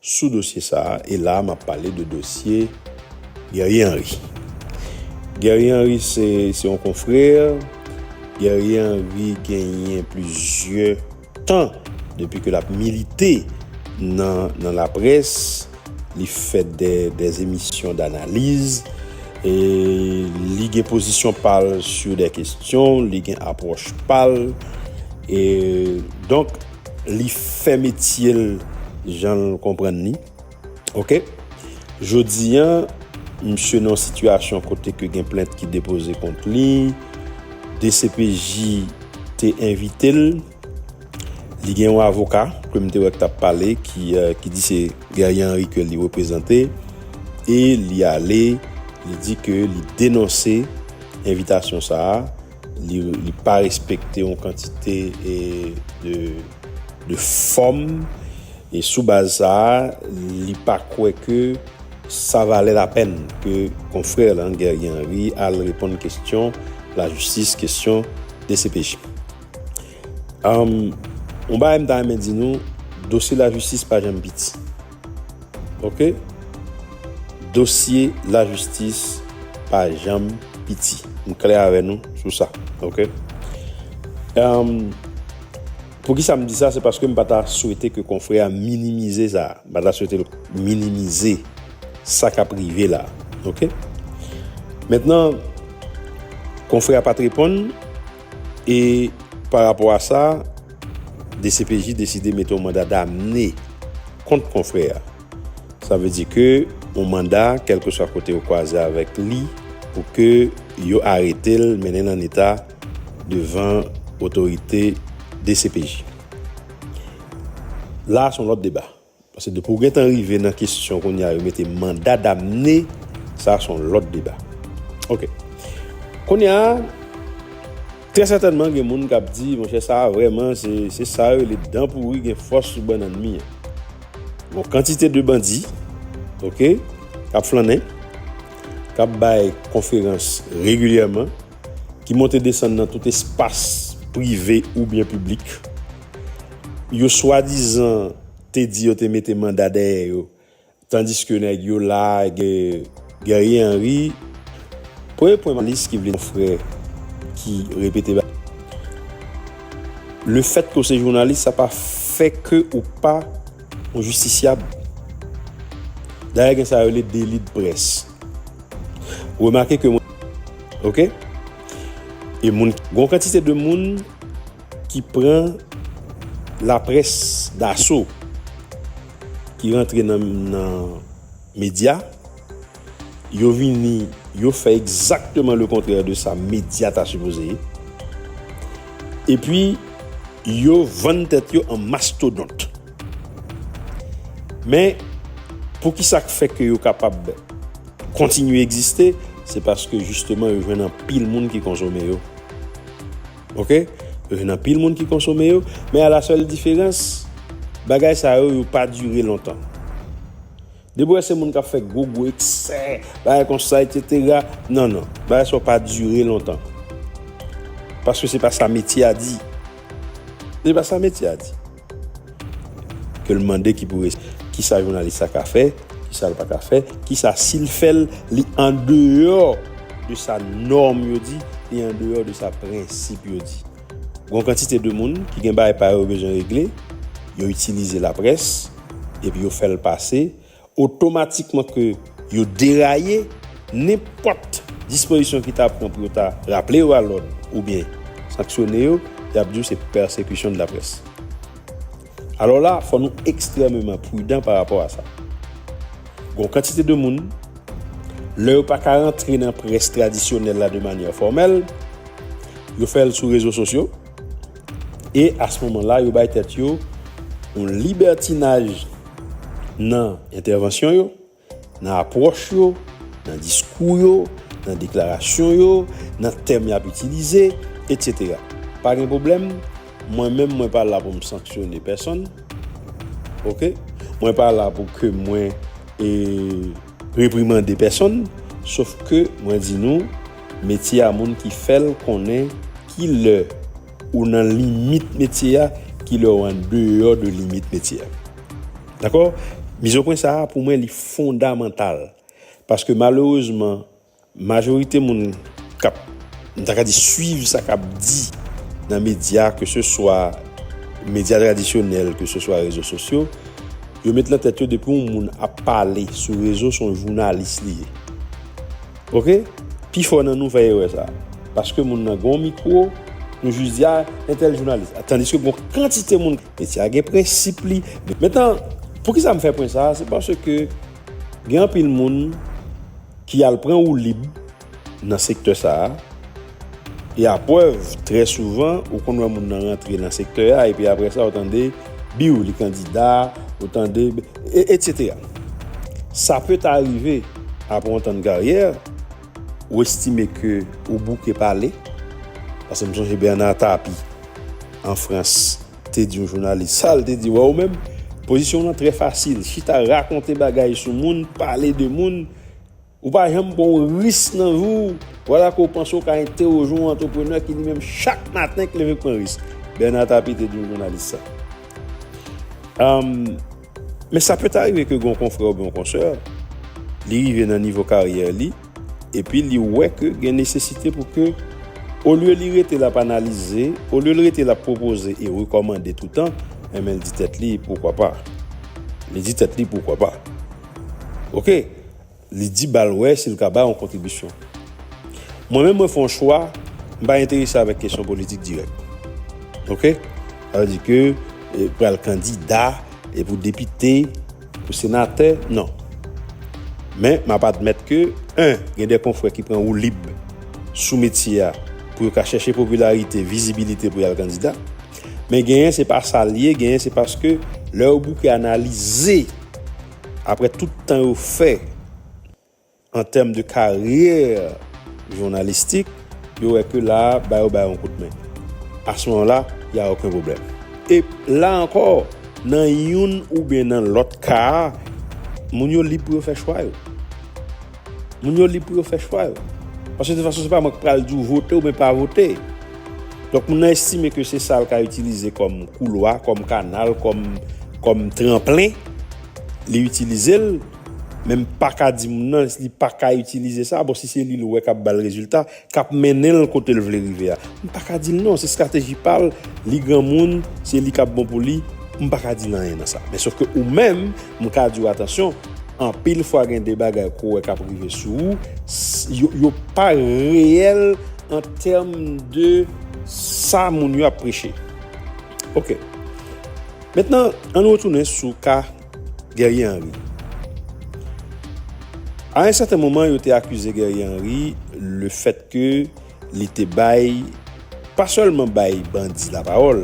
Sou dosye sa a, e la a m ap pale de dosye Guerrier Henri. Guerrier Henri se se yon konfrè, Guerrier Henri genyen plizyè tan depi ke l ap milite nan nan laprès, li fè dè dè emisyon danaliz, e li gen pozisyon pa l sou dè kesyon, li gen apwòch pa l, e donk. Li fè metye l jan l konprann li. Ok. Jodi a, misye nan yon sitiyasyon kote ke gen plent ki depoze kont li. Dcpj te envite l. Li gen yon avoka ke m te wè ki t ap pale, ki di se Guerrier Henri ke li reprezante. E li ale, li di ke li denonse envitasyon sa a. li pa respekte yon kantite de fòm, e sou baz sa a, li pa kwè ke sa valè lapèn ke konfrè l an, Guerrier Henry, al reponn kestyon lajistis, kestyon dcpj. Yon bagay m ta renmen di nou, dosye lajistis pa janm piti. Ok dosye la jistis pa janm piti m klè avè nou sou sa ok emm pou ki sa m di sa se paske m pa ta swete ke konfrè a minimize sa m pa ta swete l minimize sa k ap rive la ok mentnan konfrè a pa t reponn E pa rapò a sa, dcpj deside mete yon manda damne kont konfrè a. Sa vle di ke yon manda, kèlkeswa kote yo kwaze avèk li, pou ke yo arete l, mennen l an eta devan otorite dcpj. La a se yon lòt deba. Paske depi w gentan rive nan kesyon kounya yo mete manda damne sa son lòt deba ok kounya trè sètènman gen moun kap di monchè sa vrèman se sa yo rele dan pouri gen fòs sou bannann mi an gon kantite de bandi ok kap flannen kap bay konferans regilyèman ki monte desann nan tout espas prive oubyen piblik, yo swadizan te di yo te mete manda dèyè yo tandiske nèg yo la Guerrier Henry Premye pwen jounalis ki vle konfrè ki repete bagay lefètke ou se jounalis sa pa fè ke ou pa yon jistisyab dayè gen sa yo rele deli de près remake ke mwen. Ok E moun Gon kantite de moun Ki pran La pres daso Ki rantre nan Nan Medya Yo vini Yo fè ekzakteman le kontrè de sa Medya ta sipoze ye E pi Yo vann tèt yo an mastodont Men Poukisa k fè ke yo kapab Kontinye egziste, se paske jisteman yo jwenn anpil moun ki konsome yo. Ok, yo jwenn anpil moun ki konsome yo, men a la sèl diferans, bagay sa yo, yo pa dire lontan. Depi wè se moun k ap fè gwo gwo eksè, bagay konsa eksetera, non non, bagay sa yo pa dire lontan. Paske se pa sa metye a di. Se pa sa metye a di. Ke l mande ki pou respon. Kisa jounalis sa ka fè, kisa l pa ka fè, kisa si l fè l li andeyò de sa nòm yo di, li andeyò de sa prensip yo di. Gon kantite de moun ki gen bagay pa yo yo bezwen regle, yo itilize laprès epi yo fè l pase otomatikman ke yo deraye, nenpòt dispozisyon ki ta pran pou yo ta raple yo a lòd oubyen sanksyone yo, y ap di w se persecution de la presse. Alò la, fò nou ekstrèmeman prudan pa rapò a sa. Gon kantite de moun, lè yo pa ka rantre nan près tradisyonèl la de manyè fòmèl, yo fè l sou rezo sosyo, e a se moman la yo bay tèt yo yon libètinaj, Nan entèvansyon yo, nan apwòch yo, nan diskou yo, nan deklarasyon yo, nan tèm y ap itilize, etsetera. Pa gen pwoblèm, mwen menm mwen pa la pou m sanksyone pèsonn, oke, mwen pa la pou ke mwen reprimande pèsonn, sof ke mwen di nou metye a moun ki fè l konnen ki lè. Ou nan limit metye a, ki lè ou an deyò de limit metye a. Dakò? Mizopwen sa a, pou mwen, li fondamantal. Paske malerezman, majorite moun k ap, m ta ka di, suiv sa k ap di nan medya, ke se swa medya tradisyonèl, ke se swa rezo sosyo, yo met nan tèt yo depi yon moun ap pale sou rezo, se yon jounalis li ye. Ok pifò nan nou fè erè sa paske moun nan gon mikro nou jis di a entèl jounalis tandiske gon kantite moun metye a gen prensip li mentan poukisa m fè pwen sa se paske gen anpil moun ki al pran woulib nan sektè sa. E a prèv, trè souvan, ou konn wè moun nan rantre nan sektè a epi aprè sa ou tande, biw li kandida, ou tande, etc. Sa peut a rive aprè yon tann karyè, ou estime ke ou bouke pale, pase m sonje Bernard Tapie an Frans te di yon jounalis, sa l te di, wè ou menm, pozisyon w lan trè fasil, chita rakonte bagay sou moun, pale de moun, Ou pa janm pran yon risk nan vi w, wala ke w panse w ka entewòje yon antreprenè ki li menm chak maten k leve k pran risk, Bernard Tapie te di yon jounalis sa. Men sa pèt arive ke gen yon konfrè oubyen yon konsè, li rive nan nivo karyè li, epi li wè ke gen nesesite pou ke olye li rete l ap analize, olye l rete l ap pwopoze e rekòmande toutan, enben l di tèt li, poukwa pa? Li di tèt li, poukwa pa? Oke! Li di ba l wè si l ka bay yon kontribisyon. Mwen menm mwen fè yon chwa, m pa enterese avèk kesyon politik dirèk. Ok? Sa vle di ke pral kandida e pou depite, pou senatè, non. Men m ap admèt ke 1 gen de konfrè ki pran woulib sou metye a pou yo ka chèche popilarite, vizibilite pou y al kandida. Men genyen se pa sa l ye, genyen se paske lè yo bouke analize, Aprè tout tan yo fè an tèm de karyè jounalistik, yo wè ke la a ba yo bay yon kout men. A ce moment là, il y a aucun problème. E la ankò, nan youn oubyen nan lòt ka a, moun yo lib pou yo fè chwa yo. Moun yo lib pou yo fè chwa yo. Paske de fason se pa mwen ki pral di w vote oubyen pa vote. Donk moun nan estime ke se sa l ka itilize kòm koulwa, kòm kanal, kòm tranplen, li itilize l. Men m pa ka di moun nan li pa ka itilize sa. Bon si se li l wè k ap ba l rezilta. k ap mennen l kote l vle rive a m pa ka di l non se strateji pa l li granmoun se li k ap bon pou li m pa ka di l anyen nan sa men sofke ou menm m ka di w atansyon anpil fwa gen de bagay ke w wè k ap rive sou ou yo pa reyèl an tèm de sa moun yo ap preche ok mentnan an nou retounen sou ka Guerrier Henry A un sèten moman yo te akize Guerrier Henry le fèt ke li te bay, pa sèlman bay bandi lapawòl,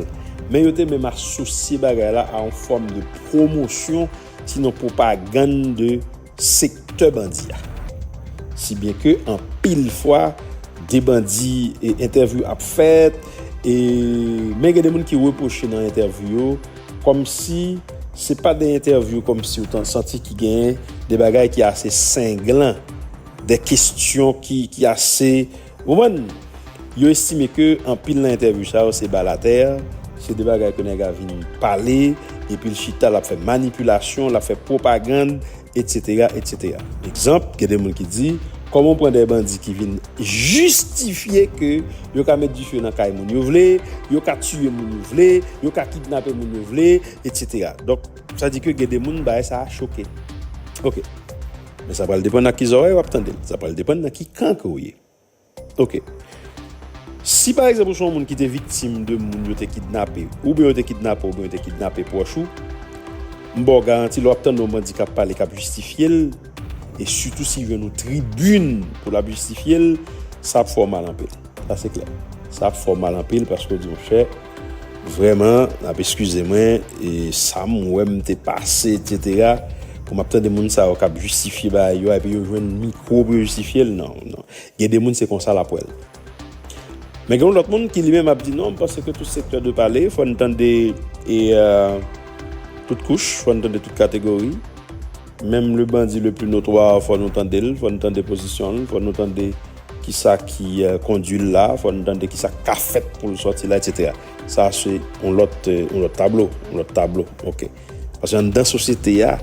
men yo te menm asosye bagay la a on fòm de pwomosyon sinon pwopagann de sektè bandi a. Si byen ke anpil fwa de bandi e entèvyou ap fèt e men gen de moun ki repwoche nan entèvyou yo kòm si se pa de entèvyou kòm si ou ta santi ki gen de bagay ki ase senglan, de kestyon ki ase Ou konprann? Yo estime ke anpil nan entèvyou sa yo se balatè, se de bagay ke nèg a vin pale, epi l chita l ap fè manipilasyon, l ap fè pwopagann, etsetera, etsetera. Egzanp, gen de moun ki di, kòman w pran de bandi ki vin jistifye ke yo ka met dife nan kay moun yo vle, yo ka tiye moun yo vle, yo ka kidnape moun yo vle, etsetera. Donk, sa di ke gen de moun bagay sa a choke. Ok. Men sa pral depann ak ki zòrèy wap tande l, sa pral depann nan ki kan ke w ye. Ok. Si pa egzanp ou se yon moun ki te viktim de moun yo te kidnape, oubyen yo te kidnape w oubyen yo te kidnape pwòch ou, m ba w garanti lè wap tande yon bandi kap pale kap jistifye l, e sitou si jwenn yon tribin pou lap jistifye l, sa ap fè w mal anpil. Sa se klè. Sa ap fè w mal anpil paske w di yon chè, vrèman, n ap eskize mwen, e sa m wè m te pase, etsetera, pou m ap tande moun sa yo k ap jistifye bagay yo a, epi yo jwenn mikwo pou yo jistifye l, non, non. Gen de moun se konsa l ap wè l. Men gen yon lòt moun ki li menm ap di non, m panse ke tout sektè dwe pale, fò n tande e tout kouch, fò n tande tout kategori. Menm le bandi le pli notwa, fò nou tande l, fò nou tande pozisyon l, fò nou tande. Kisa ki kondwi l la, fò n tande kisa k ka fèt pou l sòti la etc. Sa se yon lòt yon lòt tablo, yon lòt tablo ok. Paske anndan sosyete a,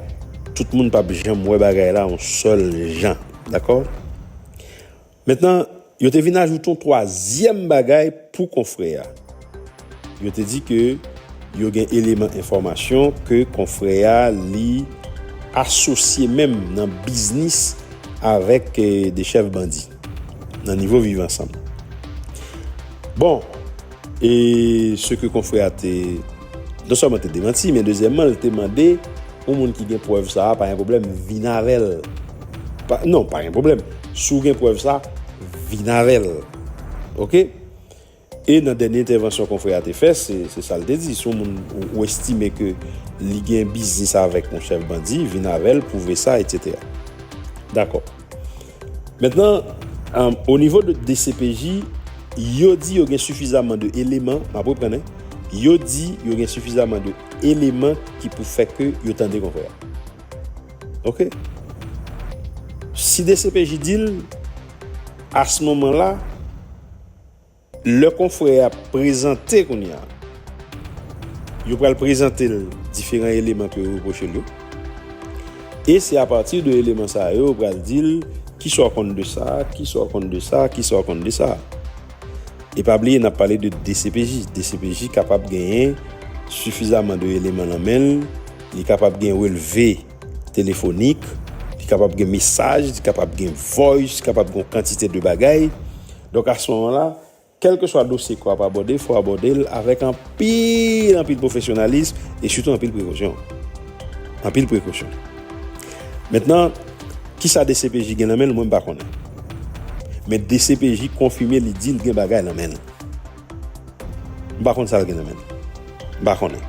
tout moun p ap janm wè bagay la yon sèl jan dakò. Mentnan yo te vin ajoute yon twazyèm bagay pou konfrè a. Yo te di ke yo gen eleman enfòmasyon ke konfrè a li asosye menm nan biznis avèk 2 chèf bandi nan nivo viv ansanm. Bon, e se ke konfrè a te non sèlman te demanti men dezyèmman li te mande yon moun ki gen prèv sa a pa gen pwoblèm vin avè l. Non, pa gen pwoblèm, si w gen prèv sa a vin avè l. Ok. E nan dènye entèvansyon konfrè a te fè, se sa l te di, si yon moun ou estime ke li gen biznis avèk yon chèf bandi, vin avè l, pwouve sa, etsetera. Dakò. Mentnan, o nivo de dcpj, yo di yo gen sifizaman de eleman, m ap reprann hein, yo di yo gen sifizaman de eleman ki pou fè ke yo tande konfrè a. Ok. Si dcpj di l, a ce moment là, Lè konfrè a prezante kounye a, yo pral prezante l diferan eleman ke yo repwoche l yo, e se apati de eleman sa yo yo pral di l kisa w konn de sa, kisa w konn de sa, kisa w konn de sa. E pa bliye n ap pale de dcpj, dcpj kapab genyen sifizaman de eleman nan men l, li kapab gen relve telefonik, li kapab gen mesaj, li kapab gen voice, kapab gen yon kantite de bagay, Donk a son la, kèlkeswa dosye ke w ap abòde, fò w abòde l avèk anpil, anpil pwofesyonalism e sitou anpil prekosyon. Anpil prekosyon. Mentnan, kisa dcpj gen nan men l, mwen m pa konnen. Men dcpj konfime li di l gen bagay nan men l. M pa konn sa l gen nan men l. M pa konnen.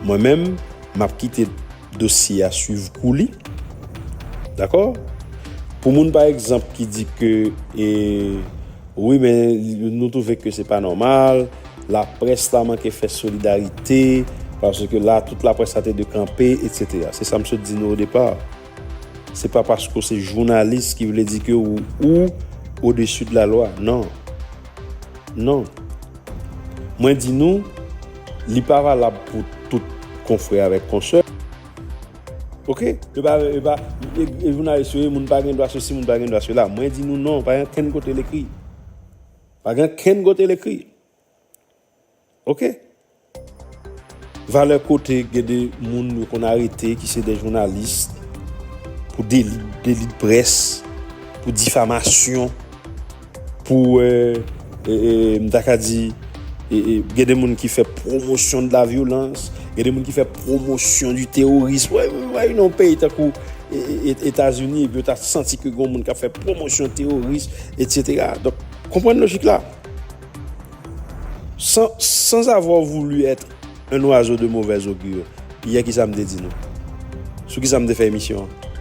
Mwen menm, m ap kite. dosye a swiv kou li. Dakò? Pou moun pa egzanp ki di ke e wi men nou twouve ke se pa nòmal, laprès la manke fè solidarite, paske la tout laprès la te dwe kanpe etsetera. Se sa m sot di nou o depa. Se pa paske w se jounalis ki vle di ke ou odesu de la lwa. Non. Non. Mwen di nou, li pa valab pou tout konfrè avèk konsè. Ok, yo pa, yo pa, e jounalis yo ye, moun pa gen dwa sosi, moun pa gen dwa sela. Mwen di nou non, pa gen kenn kote l ekri. Pa gen kenn kote l ekri. Ok. Valè kote gen de moun yo konn arete ki se de jounalis pou deli de près, pou difamasyon, pou m ta ka di gen de moun ki fè pwomosyon de la vyolans, gen de moun ki fè pwomosyon di teworism. Wè imajen yon peyi tankou Etazini epi yo ta santi ke gen yon moun k ap fè pwomosyon teworism, etsetera. Donk, konprann lojik la. Sans, sans avoir voulu être un oiseau de mauvaise augure, yè ki sa m te di nou? Sou ki sa m te fè emisyon an?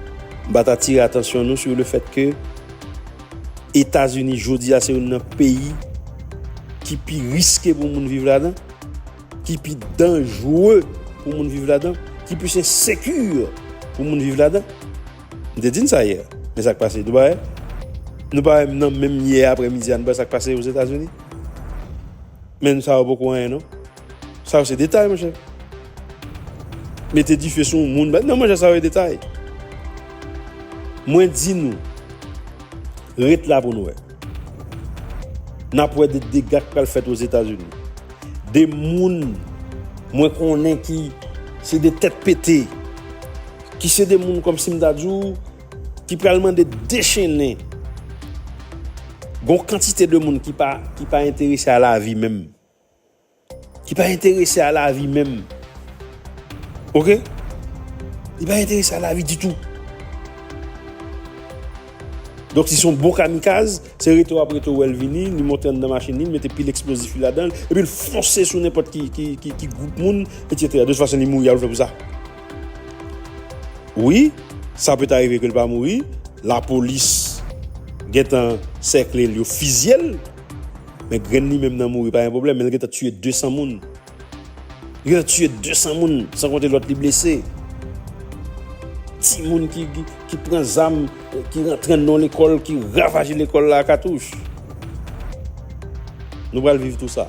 M pa ta tire atansyon nou sou le fèt ke Etazini jodi a se youn nan peyi ki pi riske pou moun viv ladan, ki pi danjre pou moun viv ladan, ki plis ensekir pou moun viv ladan? M te di n sa yè, men sa k pase Dubai? Nou pa wè m nan menm yè aprèmidi a nou pa wè sa k pase Ozetazini? Men nou sa yo poko anyen non. Sa yo se detay monchè. Mete dife sou yon moun, non monchè sa yo e detay. Mwen di nou, ret la pou nou wè. N ap wè de dega k pral fèt Ozetazini. De moun mwen konnen ki se de tèt pete. Ki se de moun kòm si m ta di w ki pral mande dechennen gon kantite de moun ki pa enterese a lavi menm. Ki pa enterese a lavi menm. Ok? Li pa enterese a lavi ditou. Donk si se yon bon kamikaz, se rete w ap rete w wè l vini, li monte anndan machin li, li mete pil eksplozif li ladan l, epi l fonse sou nenpòt ki gwoup moun, etsetera. De tout fason li mouri, a ou l fè pou sa? Wi, sa peut arive ke l pa mouri, lapolis gentan sèkle l yo fizye l, men grenn li menm nan mouri pa gen pwoblèm men l gentan tiye 200 moun, li gentan tiye 200 moun san konte lòt li blese, timoun ki pran zam ki rantre anndan yon lekòl ki ravaje lekòl la a katouch. Nou pral viv tou sa.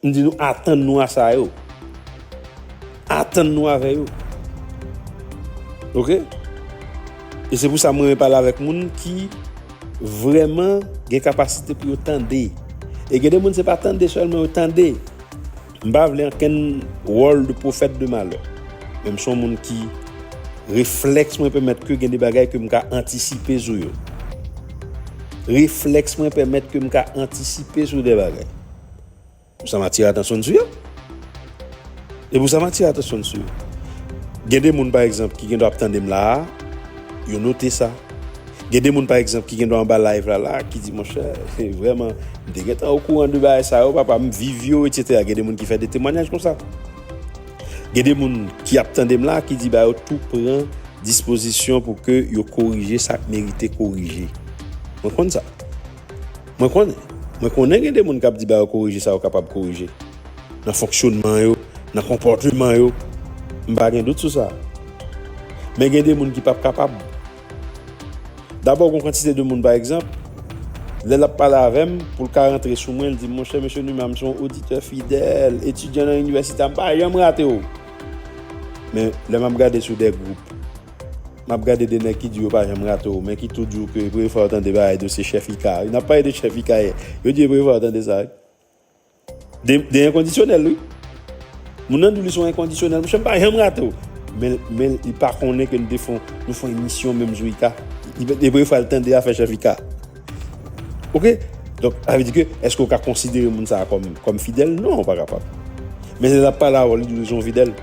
M di nou atann nou a sa yo. Atann nou avè yo. Ok? E se pou sa m renmen pale avèk moun ki vrèman gen kapasite pou yo tande. E gen de moun se pa tande sèlman yo tande. M pa vle ankenn wòl de pwofèt de malè. Men m son moun ki reflèks mwen pèmèt ke gen de bagay ke m ka antisipe sou yo. Reflèks mwen pèmèt ke m ka antisipe sou de bagay. Pou sa m atire atansyon n sou yo. E pou sa m atire atansyon n sou yo. Gen de moun pa egzanp ki gendwa ap tande m la a, yo note sa. Gen de moun pa egzanp ki gendwa anba live la la a ki di monchè, se vrèman, m te gentan okouran de bagay sa yo papa, m viv yo etsetera. Gen de moun ki fè de temwanyaj konsa. Gen de moun ki ap tande m la a ki di ba yo tou pran dispozisyon pou ke yo korije sa k merite korije. Mwen konn sa. Mwen konnen. Mwen konnen gen de moun k ap di ba yo korije sa yo kapab korije. Nan fonksyonman yo, nan konpòteman yo. M pa gen dout sou sa. Men gen de moun ki p ap kapab. Dabò gon kantite de moun pa egzanp, lè l ap pale avè m, pou l ka rantre sou mwen, l di m, monchè Mesye Numa m se yon oditè fidèl, etidyan nan inivèsite a, m pa janm rate w. Men lè m ap gade sou de gwoup, Map gade 2 nèg ki di yo pa janm rate w men ki tou di w ke premye fwa yo tande bagay dosye chèf IKA wi nap pale de chèf IKA yè yo di e premye fwa yo tande sa wi de de enkondisyonèl wi moun nan di w li se yon enkondisyonèl monchè m pa janm rate w men men li pa konnen ke nou te fon nou fon emisyon menm jou IKA li pa e premye fwa l tande afè chèf IKA ok donk sa vle di ke èske w ka konsidere moun sa a kòm kòm fidèl non ou pa kapab men lè lap pale avè w li di w li se yon fidèl.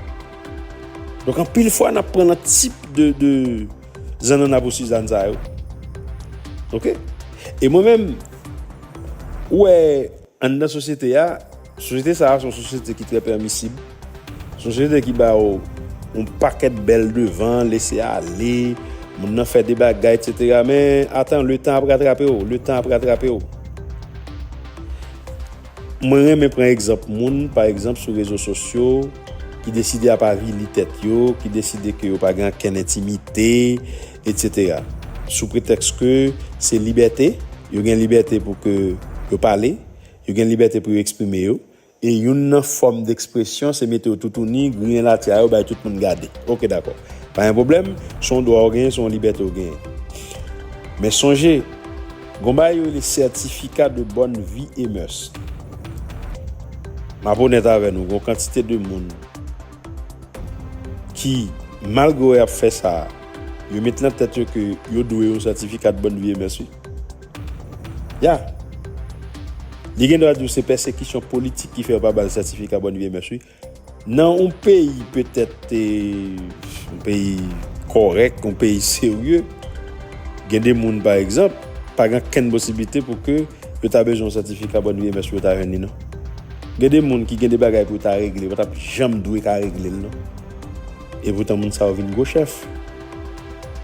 Donk anpil fwa nap pran nan tip de zanana pou Suzanne sa yo. Ok? E mwen menm, ou wè an nan sosyete a, sosyete sa a son sosyete ki trè pèmisib, son sosyete ki ba ou yon pakèt bèl devan, lese ale, moun nan fè de bagay, etc. Men, atan, le tan ap ratrape ou, le tan ap ratrape ou. Mwen renmen pran egzanp moun, pa egzanp sou rezo sosyo, ki deside ap avili tèt yo, ki deside ke yo pa gen ankenn entimite, etc. Sou pretèks ke se libète, yo gen libète pou ke yo pale, yo gen libète pou yo eksprime yo, e youn nan fòm dekspresyon se mete yo toutouni, griyen latya yo bay tout moun gade. Ok, dakò. Pa gen pwoblèm, se yon dwa ou genyen, se yon libète ou genyen. Men sonje. Gon bagay yo rele certificat de bonne vie et mœurs. Map onèt avè nou gon kantite de moun ki malgre yo ap fè sa yo met nan tèt yo ke yo dwe yon certificat de bonne vie et mœurs wi. Ya. Li gendwa diw se pèsekisyon politik ki fè yo pa bal certificat bonne vie et mœurs wi. Nan yon peyi petèt te yon peyi kòrèk, yon peyi serye, gen de moun pa egzanp, pa gen okenn posiblite pou ke yo ta bezwen yon sètifika bòn VMS pou yo ta jwenn li non. Gen de moun ki gen de bagay pou yo ta regle, yo pa t ap janm dwe ka regle l non. E poutan moun sa yo vin gwo chèf.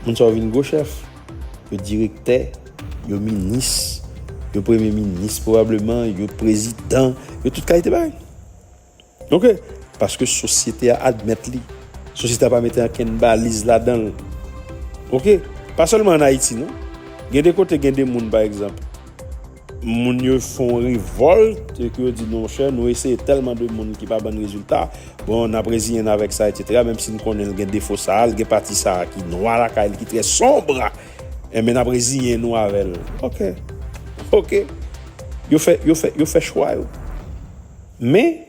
Moun sa yo vin gwo chèf. Yo direktè, yo minis, yo premye minis pwobableman, yo prezidan, yo tout kalite bagay. Ok! Paske sosyete a admèt li. Sosyete a pa mete ankenn baliz ladan l. Ok! Pa sèlman an Ayiti non. Gen de kote gen de moun pa egzanp, moun yo fè yon revòlt e ke yo di non monchè nou eseye tèlman de moun ki pa ban n rezilta, bon n ap reziyen n avèk sa etsetera menm si n konnen l gen defo sa a, l gen pati sa a ki nwa lakay li, ki trè sombre enben n ap reziyen nou avè l. Ok! Ok! Yo fè, yo fè, yo fè chwa yo. Men,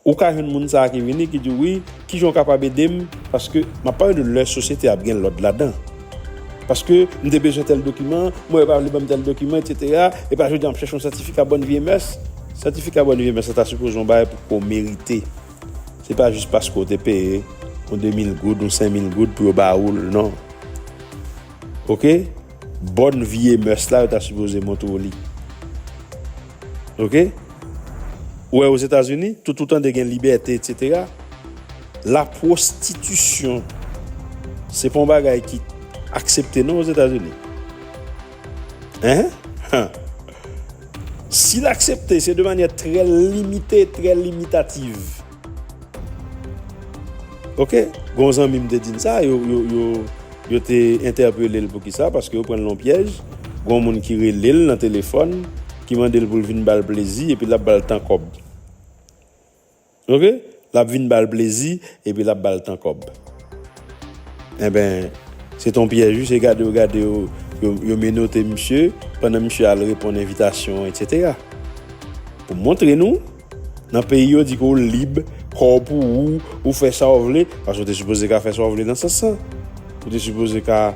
ou ka jwenn moun sa a ki vini, ki di w, wi, ki jan w kapab ede m, paske, m ap pale de lè sosyete a ap gen lòd ladan, paske, m te bezwen tèl dokiman, mwen yo pa vle ban m tèl dokiman, etsetera, epi a jodi a m ap chèche yon sètifika bòn vye mès. Sètifika bòn vye mès la ta sipoze yon bagay pou ke w merite. Se pa jis paske w te peye yon demil goud, yon senmil goud pou yo ba ou l, non. Oke? Bòn vye mès la, yo ta sipoze montre w li. Ok ou wè ozetazini tout ou tande gen libète etc la prostitution se pa yon bagay ki aksepte non ozetazini hein han si l aksepte se de manyè trè limite trè limitativ. Ok gon zanmi m te di m sa yo yo te entèpele l poukisa paske yo pran l nan pyèj gon moun ki rele l nan telefòn ki mande l pou l vin ba l plezi epi l ap ba l tan kòb ok l ap vin ba l plezi epi l ap ba l tan kòb enben se t on pyèj wi se gade yo gade yo yo menote misye pandan misye al reponn envitasyon etsetera pou m montre nou Nan peyi yo di ke w lib, kò w pou ou, ou fè sa w vle, paske ou te sipoze ka fè sa w vle nan sans lan. Ou te sipoze ka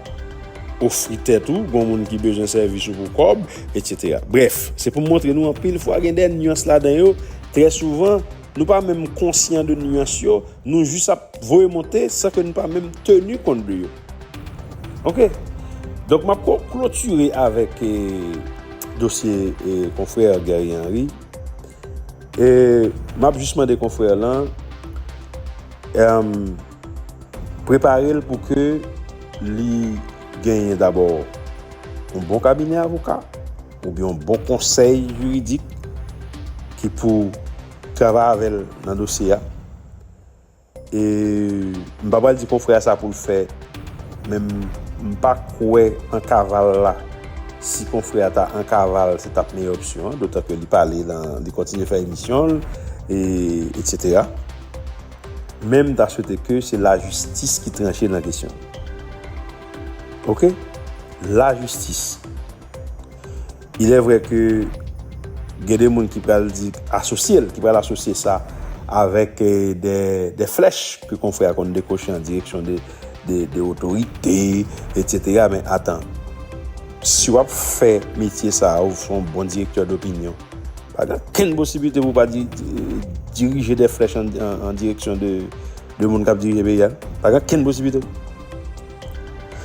ofri tèt ou, gon moun ki bezwen sèvis ou pou kòb, etc. Brèf, se pou m montre nou anpil fwa gen dè nuans ladan yo, trè souvan, nou pa menm konsyan de nuans yo, nou jis ap voye monte san ke nou pa menm teni kont de yo. Ok. Donk m ap klotire avèk dosye konfrè Guerrier Henry. E map jis mande konfrè lan prepare l pou ke li genyen dabò yon bon kabinè avoka ou byen yon bon konsèy jiridik ki pou travay avè l nan dosye a. E m pa pral di konfrè a sa pou l fè men m pa kwè an kaval la si konfrè a ta an kaval se tap meyè opsyon an dotan ke li pale nan li kontinye fè emisyon l e etc men m ta swete ke se lajistis ki tranche nan kesyon ok lajistis. Ilè vrè ke gen de moun ki pral di asosye l, ki pral asosye sa avèk de flèch ke konfrè a konn dekoche an direksyon de otorite, etsetera, men atan, si w ap fè metye sa a, ou se yon bon direktè dopinyon, pa gen okenn posiblite pou w pa dirije de flèch an direksyon de moun k ap dirije peyi a, pa gen okenn posiblite.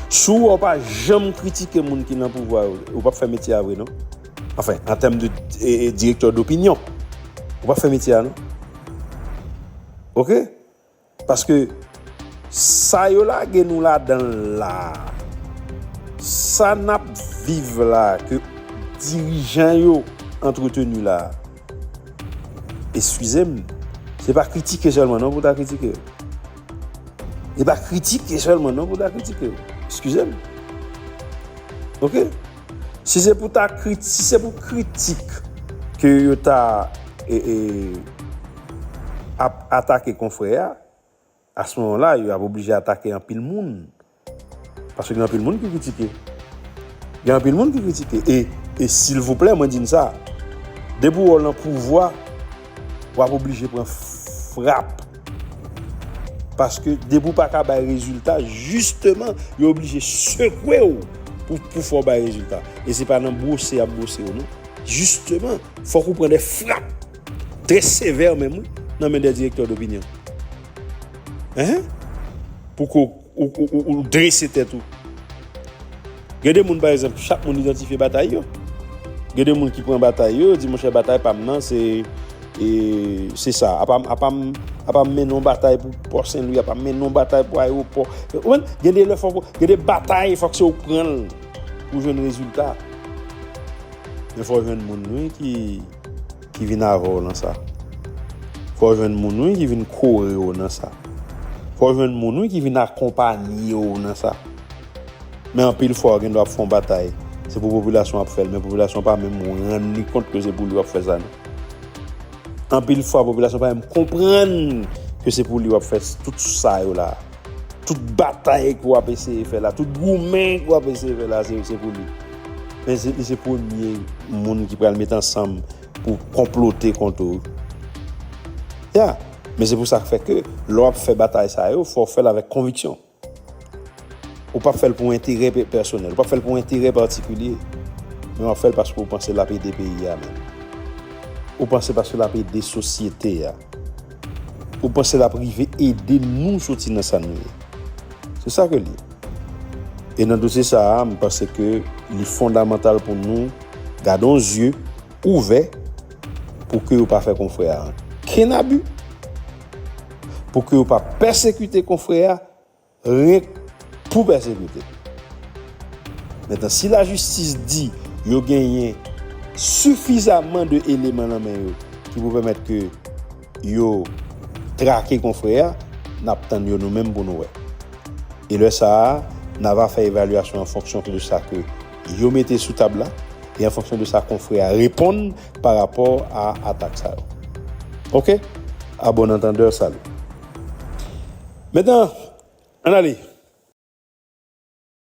Sou wè w pa janm kritike moun ki nan pouvwa yo, ou pap fè metye a vre non. Anfen, an tèm de direktè dopinyon, ou pap fè metye a non. Ok? Paske, sa yo lage nou ladan l la, sa n ap viv la, ke dirijan yo antreteni la, eskize m, se pa kritike sèlman non pou ta kritike yo. E pa kritike sèlman non pou ta kritike. Eskize m. Ok? Si se pou ta krit, si se pou kritik ke yo ta e, e, ap atake konfrè a, a se moman la yo ap oblije atake anpil moun. Paske gen anpil moun ki kritike. Gen anpil moun ki kritike. E, e silvouplè mwen di n sa, depi w lan pouvwa, w ap oblije pran frap. Paske depi w pa ka bay rezilta, jisteman, yo oblije sekwe w pou, pou fè w bay rezilta. E se pa nan bwose y ap bwose w non. Jisteman, fòk ou pran de frap trè sevè menm wi nan men de direktè dopinyon. Ehe! Pou ke w. Ou drese tèt ou. Gen de moun pa egzanp, chak moun idantifye batay yo. Gen de moun ki pran batay yo, yo di monchè batay pa m nan se se sa. A pa m a pa m mennen yon batay pou Pò Senlwi, a pa m mennen yon batay pou Ayewopò. Ou konprann? Gen de lè fòk ou, gen de batay fòk se ou k pran l pou jwenn rezilta. Men fò jwenn moun wi ki. Ki vin avèw nan sa. Fòw jwenn moun wi ki vin korew nan sa. Fòw jwenn moun wi ki vin akonpanyew nan sa. Men anpil fwa ou gen dwa ap fon batay. Se pou popilasyon ap fèl men popilasyon pa menm rann li kont ke se pou li wap fè sa non. Anpil fwa popilasyon pa menm konprann ke se pou li wap fè tout sa yo la. Tout batay ke wap eseye fè la, tout goumen ke wap eseye fè la, se pou li. Men se li se premye moun ki pral met ansanm pou konplote kont ou. Ya, men se pou sa fè ke lè wap fè batay sa yo, fò w fè l avèk konviksyon. Ou pap fè l pou enterè pèsonèl, ou pap fè l pou enterè patikilye, men wap fè l paske ou panse lap ede peyi a menm. Ou panse paske lap ede sosyete a. Ou panse lap rive ede nou soti nan sa nou ye? Se sa ke li. E nan dosye sa a, m panse ke li fondamantal pou nou gadon zye ouvè pou ke yo pa fè konfrè a ankenn abi, pou ke yo pa pèsekite konfrè a, Règ pou pèsekite. Metan si lajistis di yo genyen sifizaman de eleman lan men yo ki pou pèmèt ke yo trake konfrè a, n ap tann yo nou menm pou nou wè. E lè sa a, n ava fè evalyasyon an fonksyon ke de sa ke yo mete sou tab la e an fonksyon de sa konfrè a reponn pa rapò a atak sa yo. Ok? A bon antandè, salut! Maintenant, ann ale.